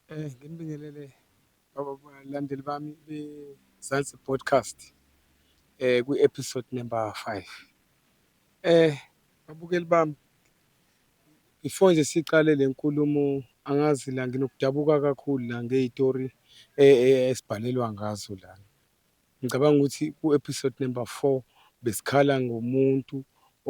Eh, nginibingelele abalandeli bami beZansi Podcast eh kwi-episode number 5. Eh, babukeli bami before nje siqale le nkulumo angazi la nginokudabuka kakhulu la ngey'tori eh, eh, esibhalelwa ngazo lana. Ngicabanga ukuthi ku-episode number four besikhala ngomuntu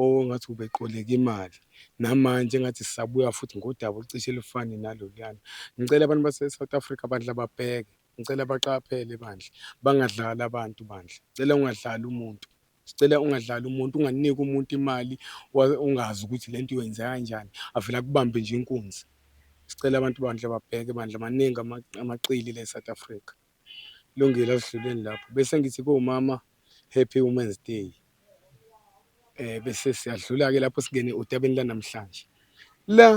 ongathi ubeqoleka imali namanje engathi sisabuya futhi ngodaba olucishe lufane naloluyana ngicela abantu base-south africa bandla babheke ngicela baqaphele bandla bangadlali abantu bandla ngicela ungadlali umuntu sicela ungadlali umuntu unganiki umuntu imali ungazi ukuthi le nto uyenze kanjani avele akubambe nje inkunzi sicela abantu bandla babheke bandla maningi amaqili le-south africa Lungile asidluleni lapho bese ngithi komama happy women's day eh bese siyadlula ke lapho singene odabeni lanamhlanje la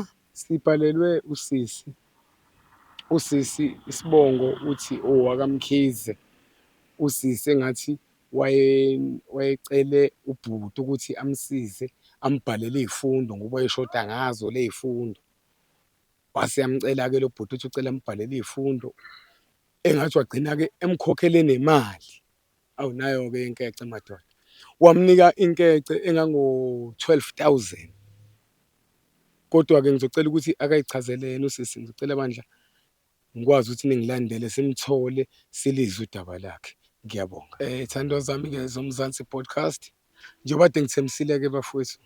sibhalelwe usisi usisi isibongo uthi owakamkhize oh, usisi engathi waye wayecele ubhuti ukuthi amsize ambhalele izifundo ngoba eshoda ngazo lezifundo Wase yamcela-ke lo bhuti uthi ucela ambhalele iy'fundo engathi wagcina-ke emkhokhele nemali. Awu nayo-ke inkece madoda. Wamnika inkece engango-twelve thousand. Kodwa-ke ngizocela ukuthi akayichazele yena usisi, ngizocela bandla ngikwazi ukuthi ningilandele simthole silizwe udaba lakhe. Ngiyabonga. Y'thandwa zami-ke zoMzansi Podcast, njengoba kade ngithembisile-ke bafwethu,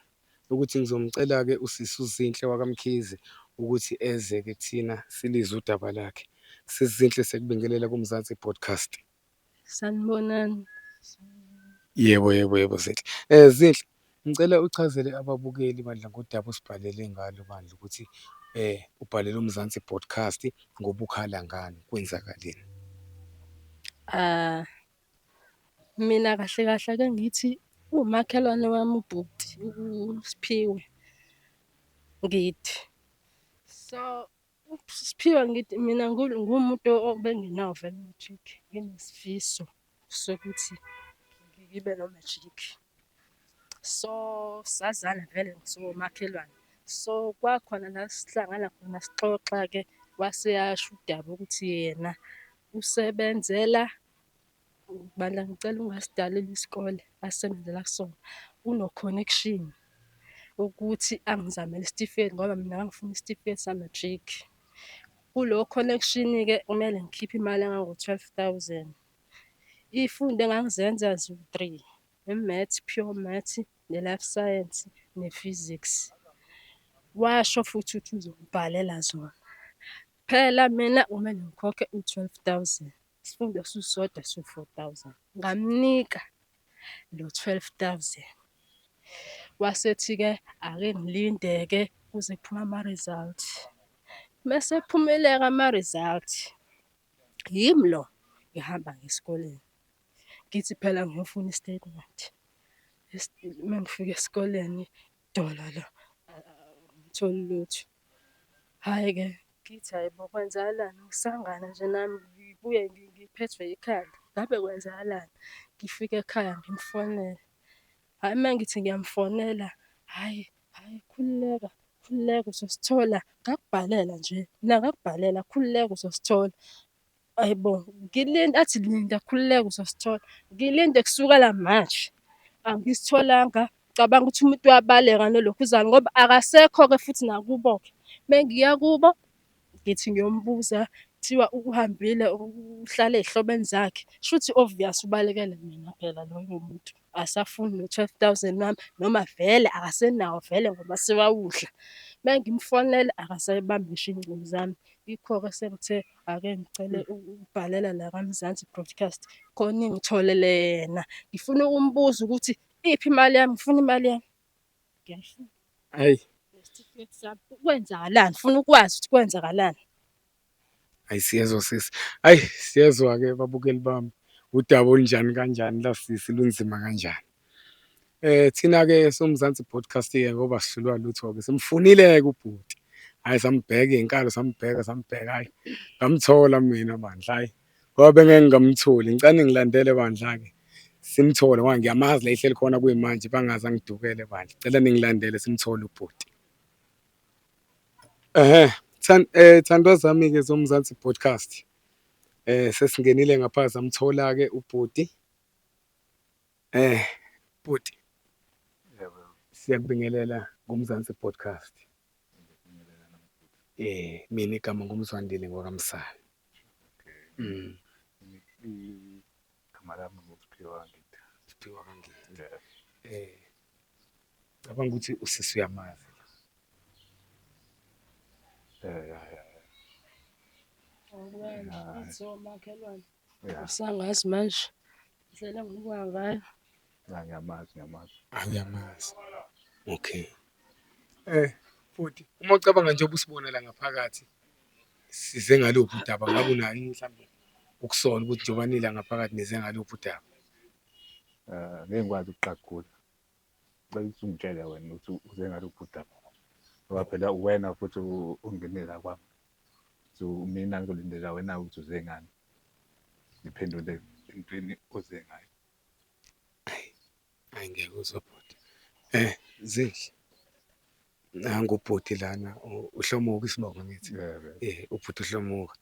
ukuthi ngizomcela-ke usisi uZinhle wakaMkhize ukuthi eze-ke kuthina silizwe udaba lakhe. Sisi Zinhle sekubingelela kuMzansi Podcast. Sanibonani. Yebo yebo yebo Zinhle. Eh Zinhle ngicela uchazele ababukeli bandla ngodaba osibhalele ngalo bandla ukuthi eh ubhalele uMzansi Podcast ngoba ukhala ngani kwenzakaleni. Ah Mina kahle kahle ake ngithi umakhelwane wami ubhuti uSphiwe Ngidi. So uSphiwe Ngidi mina nguwumuntu obengenawo vele u-matric nginesifiso sokuthi ngibe no-matric. So sazana vele siwomakhelwane so kwakhona la sihlangana khona sixoxa-ke wase asho udaba ukuthi yena usebenzela Bandla ngicela ungasidalela isikole asebenzela kusona uno-connection ukuthi angizamele isitifiketi ngoba mina ngangifuna isitifiketi sa-matric. Kulowo connection-ke kumele ngikhiphe imali engango-twelve thousand. Iy'fundo engangizenza ziwu-three, i-maths, pure maths, ne-life science, ne-physics. Washo futhi ukuthi uzongibhalela zona, phela mina kumele ngikhokhe u-twelve thousand. isifundo susodwa su-four thousand ngamnika lo twelve thousand wasethi-ke ake ngilinde-ke kuze kuphume ama-result mese phumeleka ama-result yimi lo ngihamba ngesikoleni ngithi phela ngiyofuna i-statement uma ngifika esikoleni Dolo lo angitholi lutho. Hhayi-ke ngithi hhayi bo kwenzakalani ukusangana nje nami ngibuye ngiphethwe ikhanda, ngabe kwenzakalani? Ngifike ekhaya ngimfonele, hhayi uma ngithi ngiyamfonela, hhayi hhayi khululeka khululeka uzosithola ngakubhalela nje mina ngakubhalela khululeka uzosithola. Ayibo, ngilinde athi linda khululeka uzosithola. Ngilinde kusukela manje. Angisitholanga. Cabanga ukuthi umuntu uyabaleka nolokhuzana ngoba akasekho-ke futhi nakubo-ke. Uma ngiya kubo ngithi ngiyombuza kuthiwa uhambile uhlala ey'hlobeni zakhe. Shuthi obvious ubalekele mina phela loyo muntu. akasafuni no-twelve thousand wami noma vele akasenawo vele ngoba sewawudla. Uma ngimfonela akasayibambi ngisho iy'ngcingo zami. Yikho-ke sengithe ake ngicele ukubhalela la kaMzansi Broadcast khona ingitholele yena. Ngifuna ukumbuza ukuthi iphi imali yami, ngifuna imali yami. Ngiyayifuna. Hhayi. Nesitifiketi sami, kwenzakalani? Ngifuna ukwazi ukuthi kwenzakalani. Ayi siyezwa sisi, ayi siyezwa-ke babukeli bami udaba olunjani kanjani la sisi lunzima kanjani. Eh thina-ke soMzansi Broadcasting ngoba sihlulwa lutho-ke simfunile-ke ubhuti. Hhayi sambheka iy'nkalo sambheka sambheka hhayi ngamthola mina bandla hhayi ngoba bengeke ngamtholi ngicane ngilandele bandla-ke simthole ngoba ngiyamazi la ehleli khona kuyimanje bangaze angidukele bandla. Cela ningilandele simthole ubhuti. Ehhe, thandwa zami-ke zoMzansi Podcast, sesingenile ngapha samthola-ke ubhuti. Bhuti, siyakubingelela ngoMzansi Podcast. Mina igama nguMzwandile ngwakaMsane. Igama lami nguSphiwe kaNgidi. Sphiwe kaNgidi . Cabanga ukuthi usisi uyamazi. Eh, ya, ya, ya. Awukwena, ithi omakhelwane. Ya, Usangazi manje. Ndlela ngokuya ngayo. ya, ngiyamazi, ngiyamazi. Awuyamazi. Okay. Eh, futhi uma ucabanga njengoba usibonela ngaphakathi size ngaluphi udaba ngabe unani mhlawumbe ukusola ukuthi njengoba nila ngaphakathi nize ngaluphi udaba. ngeke ngikwazi ukuqagula ngicela ukuthi ungitshele wena ukuthi uze ngalo bhuda ngoba phela uwena futhi ungene la kwami so mina ngizolindela wena ukuthi uze ngani ngiphendule entweni oze ngayo ayi ayi ngeke uzobhuda um eh, zinhle nangu ubhuti lana u- uhlomuka isibongo ngithi eh ubhuti uhlomuka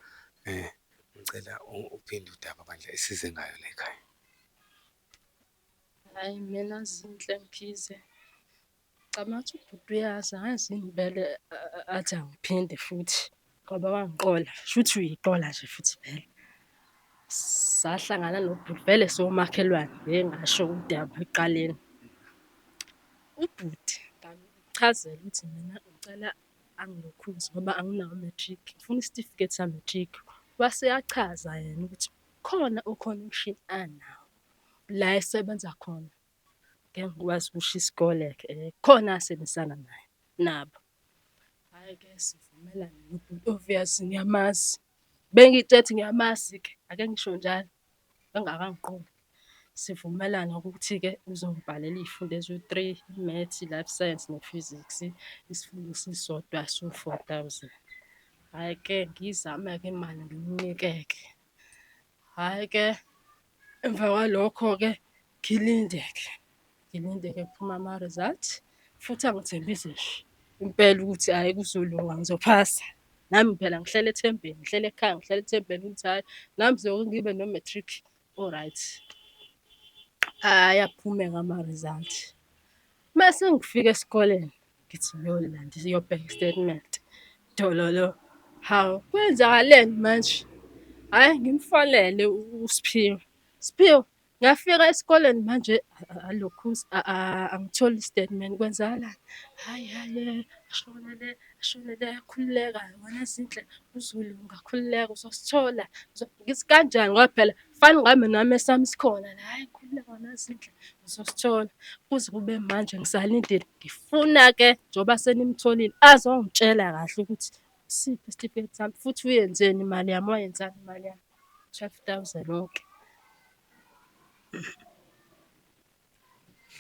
eh ngicela u- uphinde udaba bandla esize ngayo le khaya Hayi mina Zinhle Mkhize. Ngicabanga ukuthi ubhuti uyazi angazi yini vele a- a- athi angiphinde futhi. Ngoba wangiqola, shuthi uyiqola nje futhi vele. Sahlangana nobhuti vele somakhelwane ngeke ngasho ukuthi ekuqaleni. Ubhuti ngamchazela ukuthi mina ngicela angilokhuze ngoba anginawo u-matric, ngifuna isitifiketi sa-matric. Wase eyachaza yena ukuthi khona o-connection anawo la esebenza khona, ngeke ngikwazi ukusho isikole-ke, khona asebenzisana naye nabo. Hhayi-ke sivumelane nobhuti Obvious ngiyamazi. Bengitshela ukuthi ngiyamazi-ke ake ngisho njalo engakangiqondi. Sivumelane ngokuthi-ke uzongibhalela iy'fundo eziwu-three, i-maths, i-life science ne-physics, isifundo esisodwa siwu-four thousand. Hhayi-ke ngiyizame-ke imali ngimnike-ke. Hhayi ke emva kwalokho-ke ngilinde-ke ngilinde-ke kuphuma ama-result futhi angithembise nje impela ukuthi hhayi kuzolunga ngizophasa. Nami phela ngihlele ethembeni, ngihlele ekhaya, ngihlele ethembeni ukuthi hhayi nami sizoke ngibe no-matric o-right. Ayaphumeka ama-result. Uma sengifika esikoleni ngithi ngiyolala nje siyobheka istatement dololo hawu kwenzakaleni manje hhayi ngimfonele usiphiwe siphiwe ngafika esikoleni manje alokhu angitholi istatement kwenzakalani hhayi hhayi ashonele ashonele ayakhululeka wena zinhle uzulu ungakhululeka uzosithola ngithi kanjani ngoba phela Fani ngami nami esami sikhona la hayi ngikhululeka wena Zinhle ngizosithola. Kuze kube manje ngisalindile ngifuna-ke njengoba senimtholile azongitshela kahle ukuthi usiphi isitifiketi sami futhi uyenzeni imali yami, wayenzani imali yami, twelve thousand okay.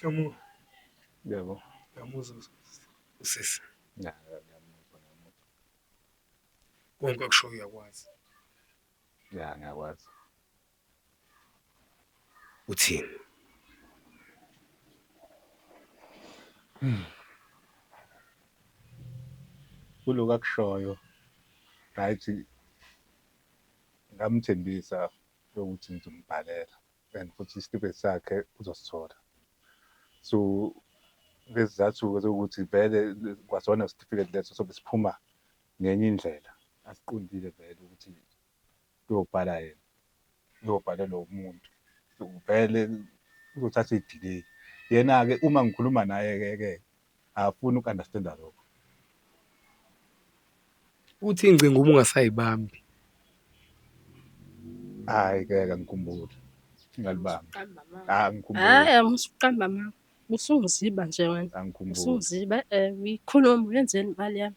Hlomula. Yebo. Uyamuzwa usisi? Ngiyamuzwa, ngiyamuzwa. Konke akushoyo uyakwazi. Ya ngiyakwazi. Uthini? Kuloku akushoyo right ngamthembisa ukuthi ngizombhalela and futhi isitifiketi sakhe uzosithola. So ngezizathu-ke zokuthi vele kwasona isitifiketi leso sobe siphuma ngenye indlela. Asiqondile vele ukuthi uyobhala yena uyobhalelwa umuntu vele uzothatha idelay yena ke uma ngikhuluma naye ke ke akafuni uku understand lokho uthi ingcingo uma ungasayibambi hayi ke ngikhumbule ngalibamba ah ngikhumbule hayi angisuqamba mama usungiziba nje wena usungiziba eh uyikhuluma yenzeni imali yami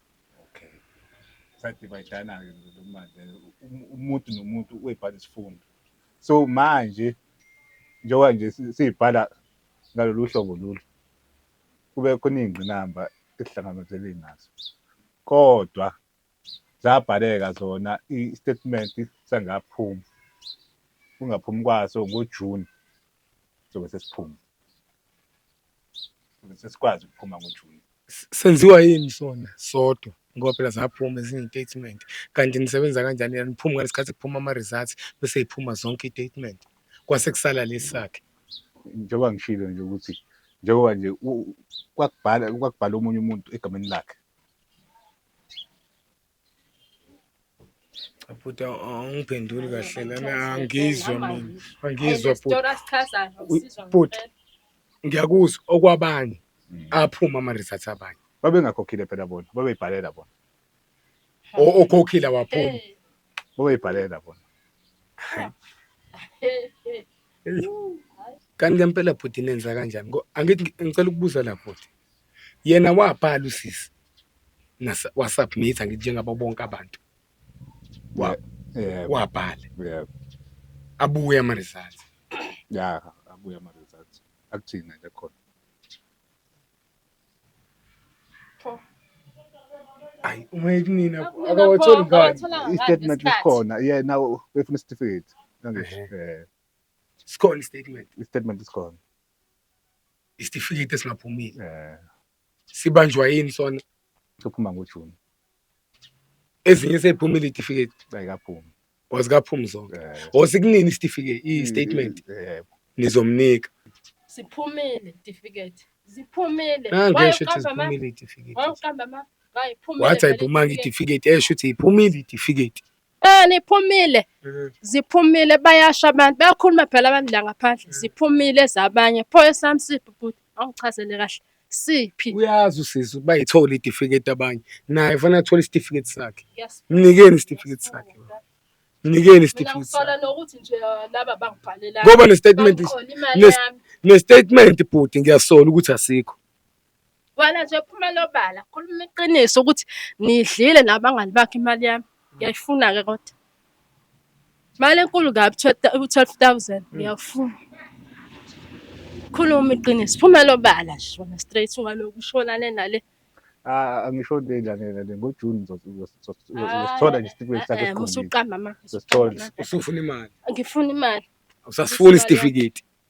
Okay. Sadivayidana-ke lo manje um- umuntu nomuntu uyibhala isifundo. So manje njengoba nje si- siyibhala ngalolu hlobo lolu kube khona iy'ngqinamba esihlangabezele nazo. Kodwa zabhaleka zona i-statement sangaphuma. Kungaphumi kwaso ngoJuni sobe sesiphuma. ukuze sesikwazi ukuphuma ngoJuni. S- Senziwa yini sona sodwa ngoba phela zaphuma ezinye iy'tatimenti kanti nisebenza kanjani yena niphuma ngesikhathi kuphuma ama-results bese yiphuma zonke iy'tatimenti kwase kusala lesi sakhe njengoba ngishilo nje ukuthi njengoba nje u- kwakubhala kwakubhala omunye umuntu egameni lakhe Bhuti awungiphenduli kahle lana angizwa mina angizwa bhuti bhuti ngiyakuzwa okwabanye mm. aphuma ama-results abanye babengakhokhile phela bona babeyibhalela bona okhokhile awaphumi babeyibhalela bona kanti ngempela bhuti nenza kanjani angithi ngicela ukubuza la bhuti yena wabhala usisi nasa wasubmit ngithi njengabo bonke abantu Wa- Yeah, wabhala yeah, abuye ama results yeah, abuya ama results. Akuthina nje khona. ayi uma ekunina Akunina akawatholi pho, ngani akawathola ngani I-statement isikhathi? isikhona. Yeah, now befuna isitifiketi. Nangisho. Ehhe. Eh, sikhona istatement i-statement isikhona. isitifiketi esingaphumile eh sibanjwa yini sona sophuma ngoJune ezinye seyiphumile itifiketi ayikaphumi wazikaphumi zonke eh osikunini isitifiketi i statement eh nizomnika Siphumile itifiketi. Ziphumile. nange Why esho ukuthi uqamba ama- ziphumile itifiketi why uqamba ama- why iphumile wathi vele ayiphumanga itifiketi? itifiketi esho ukuthi iphumile itifiketi Eh niphumile ziphumile bayasha abantu bayakhuluma phela abantu la ngaphandle ziphumile zabanye pho esami siphi bhuti awuchazele kahle siphi uyazi usisi uba yithole itifiketi abanye naye fanele athole isitifiketi sakhe mnikeni isitifiketi sakhe mnikeni isitifiketi sakhe nokuthi nje laba bangibhalela ngoba nestatement nestatement bhuti ngiyasola ukuthi asikho Wena nje phumela obala, khuluma iqiniso ukuthi nidlile nabangani bakhe imali yami. Ngiyayifuna-ke kodwa. Imali enkulu kabi u-twelve thousand, ngiyakufuna. Khuluma iqiniso, phumela obala nje wena straight ungalokhu ushona le nale. Ah, angisho into enjani yena le ngoJuni uzosithola nje isitifiketi sakhe esikhombisa. Musuqamba manje. Uzosithola. Usufuna imali. Ngifuna imali. Usasifuna isitifiketi.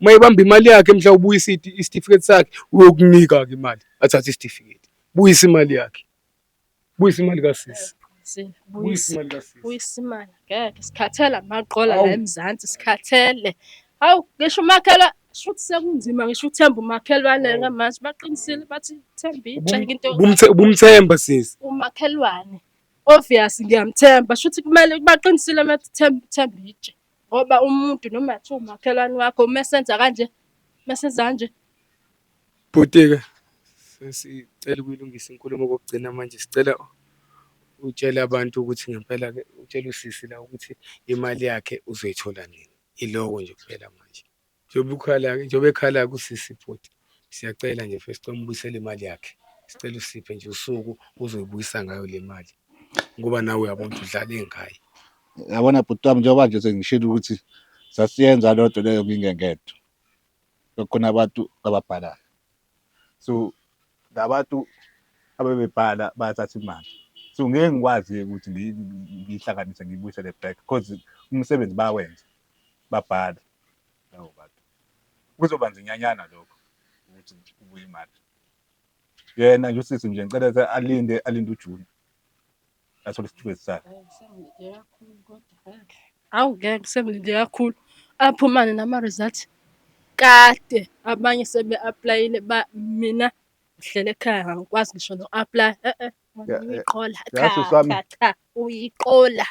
uma ibamba imali yakhe mhla ubuyisa isitifiketi sakhe uyokunika ke imali athathe isitifiketi buyisa imali yakhe buyisa imali kasisi buyisa imali ngeke sikhathele amaqola la emzansi sikhathele hawu ngisho umakhelwa sho ukuthi sekunzima ngisho uthemba umakhelwane ke manje baqinisile bathi themba itshenga into ubumthemba sisi umakhelwane obvious ngiyamthemba sho ukuthi kumele baqinisile bathi themba itshe Ngoba umuntu noma kuthiwa umakhelwane wakho uma esenza kanje, uma esenza kanje. Bhuti-ke sesicela ukuyilungisa inkulumo kokugcina manje sicela utshele abantu ukuthi ngempela-ke utshele usisi la ukuthi imali yakhe uzoyithola nini. Iloko nje kuphela manje. njengoba ukhala njengoba ekhala kusisi futhi siyacela nje mfethu sicela umbuyisele imali yakhe sicela usiphe nje usuku uzoyibuyisa ngayo le mali ngoba nawe uyabona ukuthi udlale ngayo yabona bhuti wami njengoba nje sengishilo ukuthi sasiyenza loo nto leyo ngingengedwa kukhona abantu ababhalayo so labantu abebebhala bayathatha imali so ngeke ngikwazi-ke ukuthi ngiyihlanganise ngiyibuyisele back because umsebenzi bayawenza babhale labo bantu kuzoba nzinyanyana lokho ukuthi kubuye imali yena nje usisi nje ngicela ukuthi alinde alinde ujuni athole isitifiketi sakhe awu ngeke sengilinde kakhulu aphumane nama-result kade abanye sebe-aplayile mina ngihlele ekhaya ngangikwazi ngisho no-aplaya e-e uyiqola cha cha cha uyiqola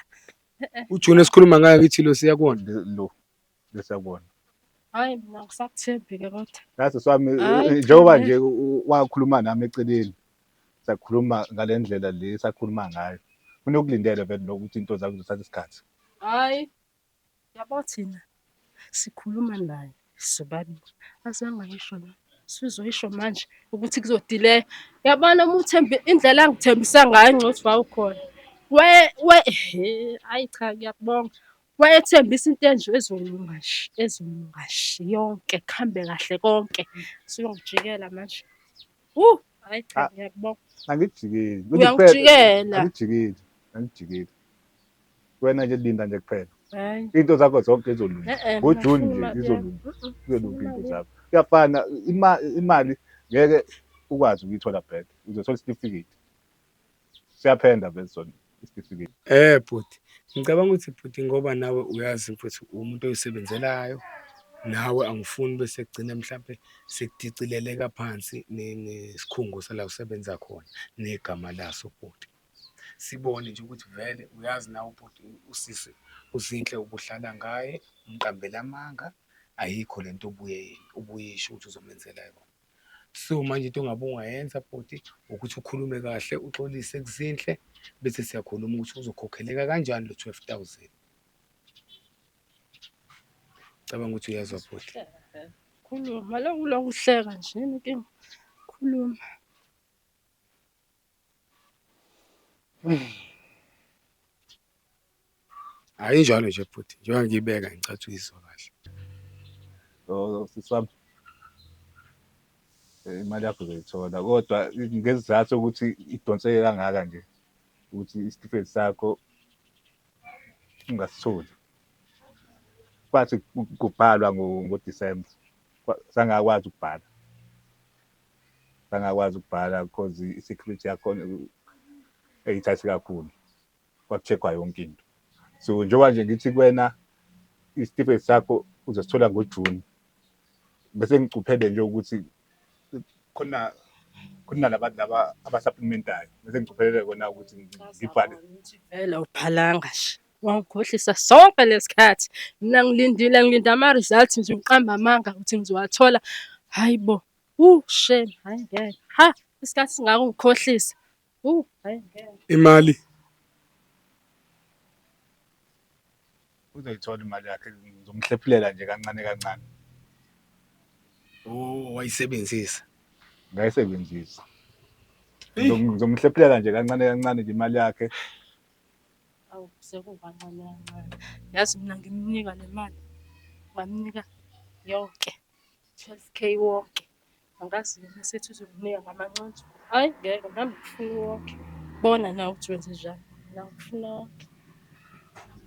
ujuni esikhuluma ngayo kithi lo siya kuwona lo lesakubona hayi mina ngisakuthembi-ke kodwa nasi swami Hhayi, eh, njengoba cha, nje u- u- wakhuluma nami eceleni sakhuluma ngale ndlela le sakhuluma ngayo unokulindele vele lokho ukuthi into zakho zithatha isikhathi hhayi yabo thina sikhuluma naye sobabili azange ayisho la sizoyisho manje ukuthi kuzodileya yabona uma uthembe indlela angithembisa ngayo ngcothi wawukhona we we he ayi cha ngiyakubonga Wayethembisa into enje ezolunga nje, ezolunga nje yonke, kuhambe kahle konke. Siyongijikela manje. Uh, hayi cha Ah. ngiyakubonga. Angijikeli. Uyangijikela. Angijikeli. Angijikeli. Wena nje linda nje kuphela. Hayi. Into zakho zonke izolunga. Eh, eh, NgoJune ngifuna nje imali izolunga. yami. Mm, mm, Kuyolunga ngifuna into imali zakho. Kuyafana ima- imali ngeke ukwazi ukuyithola back. Uzothola isitifiketi. siyaphenda vele sona isitifiketi eh bhuti ngicabanga ukuthi bhuti ngoba nawe uyazi futhi umuntu oyisebenzelayo nawe angifuni bese kugcina mhlampe sekudicileleka phansi nesikhungo sala usebenza khona negama laso bhuti sibone nje ukuthi vele uyazi nawe ubhuti usisi uzinhle ubuhlala ngaye umqambela amanga ayikho lento ubuye ubuyisho ukuthi uzomenzela yona so manje into ongabe ungayenza bhuti ukuthi ukhulume kahle uxolise kuzinhle bese siyakhuluma ukuthi uzokhokheleka kanjani lo 12000 cabanga ukuthi uyezwa bhuti khuluma lokulokuhleka nje inkinga khuluma Hayi njalo nje futhi njengoba ngiyibeka ngicathi uyizwa kahle. Oh sisi wami. Eh, Imali yakho uzoyithola kodwa ngezizathu ukuthi idonseke kangaka nje ukuthi isitifiketi sakho ungasitholi. Bathi ku- kubhalwa ngo- ngoDisemba Kwa- sangakwazi ukubhala. bangakwazi ukubhala because i-security yakhona eyithathi kakhulu kwaku-check-wa yonke into so njengoba nje ngithi kuwena isitifiketi sakho uzosithola ngojuni bese ngicuphele nje ukuthi khona khona labantu laba abasaphumentayo bese ngicuphelele kona ukuthi ngibhale vele uphalanga nje wangikhohlisa sonke lesikhathi mina ngilindile ngilinde ama-results nje ngiqamba amanga ukuthi ngizowathola hayi bo Wuu shame, hayi ngeke. Ha, isikhathi singaka ungikhohlisa. Wuu, hayi ngeke. Imali. Uzoyithola imali yakhe ngizomhlephulela nje kancane kancane. Oh, wayisebenzisa. Ngayisebenzisa. Eyi. Ngizom- Ngizomhlephulela nje kancane kancane nje imali yakhe. Awu, sekukancane kancane. Yazi mina ngimnika le mali. Ngamnika yonke. 12k wonke angazi yena sethi uzokunika ngamanconzo hayi ngeke nami ngifuna wonke bona nawe ukuthi wenze njani mina ngifuna wonke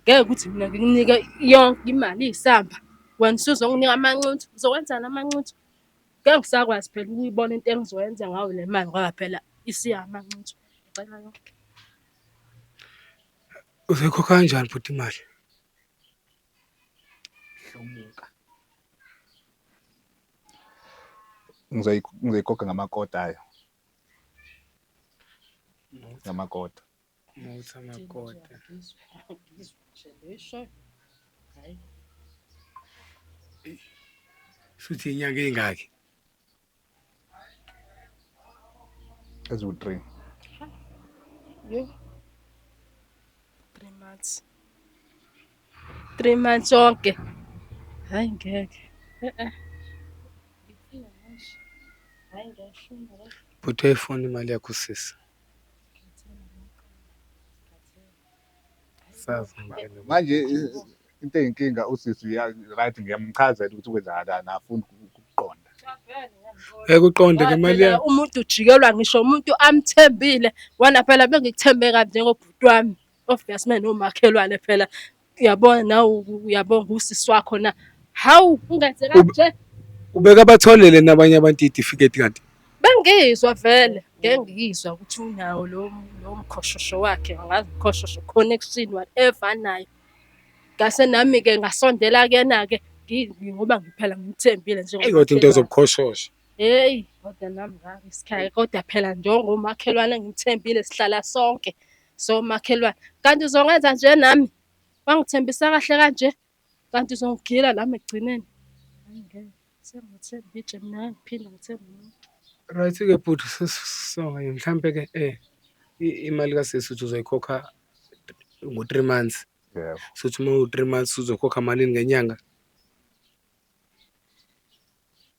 ngeke ukuthi mina ngikunike yonke imali iyisamba wena usuzonginika amanconzo uzokwenzani amanconzo ngeke ngisakwazi phela ukuyibona into engizoyenza ngayo le mali ngoba phela isiya amanconzo ngicela yonke uzoyikhokha kanjani futhi imali Hlomuka. Ngizoyigoga ngamakota ayo. Ngamakota. Muthi amakota. Hayi. Shuthi inyanga engaki? eziwu three Yo. Three months. Three months onke. Hayi ngeke. Eh-eh. Ngifuna manje. Hayi ngiyashona la. Bhuti uyayifuna imali yakho sisi. Sazi ngempela. manje i- into eyinkinga usisi uya- right ngiyamchazela ukuthi kwenzakalani afuni ukuqonda Ekuqonde ke mali Phela yakho. umuntu ujikelwa ngisho umuntu amthembile wona phela bengikuthembe kabi njengobhuti wami obvious mina nomakhelwane phela uyabona nawe u- uyabona ngusisi wakho na hawu ungenze kanje Ubeka batholele nabanye abantu itifiketi kanti. Bengizwa vele ngengizwa ukuthi unawo lo lo mkhoshosho wakhe angazi mkhoshosho connection whatever anayo. Ngase nami-ke ngasondela kuyena-ke ngoba ngiphela ngimthembile nje. Eyi kodwa into zobukhoshosho. Heyi kodwa nami ngake sikhaya kodwa phela njengomakhelwane engimthembile sihlala sonke somakhelwane. Kanti uzokwenza nje nami? Wangithembisa kahle kanje? Kanti uzongigila lami ekugcineni. Hayi ngeke. Sengathemba itshe mina ngiphinda ngithemba umuntu. Right ke bhuti sesonga yini mhlampe ke eh i- imali kasisi uthi uzoyikhokha ngo 3 months. Yebo. Sothi uma u 3 months uzokhokha malini ngenyanga?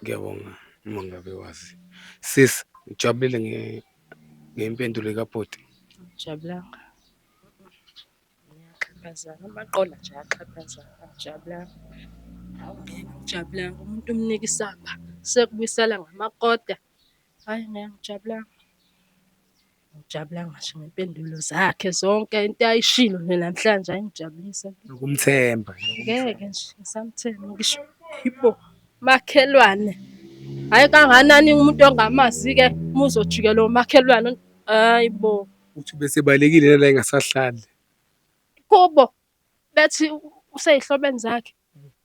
Ngiyabonga uma ngabe wazi. Sis, ngijabulile nge ngempendulo kabhuti. Jabulanga. Ngiyaxhaphazana amaqola nje ayaxhaphazana. Jabulanga. Jabulanga umuntu umnika isamba sekubuyisela ngamakota. Hayi ngeke ngijabulanga. Ngijabula ngisho ngey'mpendulo zakhe zonke into ayishilo nje namhlanje ayingijabulisa. Nokumthemba. Ngeke nje ngisamthemba ngisho yipho makhelwane. Hhayi kanganani umuntu ongamazi-ke uma uzojikela omakhelwane hhayi bo. Uthi besebalekile nala engasahlali. Kubo bethi useyihlobene zakhe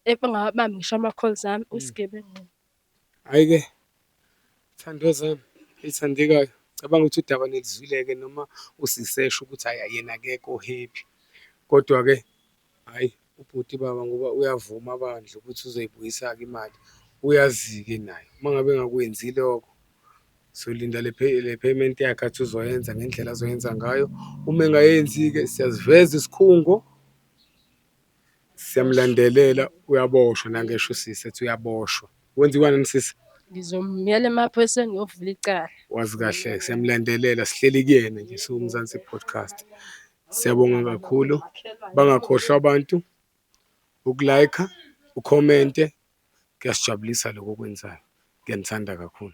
engawabambi ngisho ama-calls ami uyisigebengu. Hhayi ke thandwa zami elithandekayo cabanga ukuthi udaba nilizwile-ke noma usisesho ukuthi hhayi yena akekho o-happy kodwa-ke hhayi ubhuti baba ngoba uyavuma bandla ukuthi uzoyibuyisa-ke imali uyazi-ke naye uma ngabe engakwenzi lokho solinda le payment yakhe athi uzoyenza ngendlela azoyenza ngayo, uma engayenzi-ke siyasiveza isikhungo. Siyamulandelela uyaboshwa nangesho usisi ethi uyaboshwa. Kwenziwani yini sisi? Ngizomyela emaphoyiseni ngiyovula icala. Wazi kahle siyamulandelela sihleli kuyena nje siwuMzansi Podcast. Siyabonga kakhulu. Bangakhohlwa abantu uku-like, ukhomente kuyasijabulisa lokho okwenzayo. Ngiyanithanda kakhulu.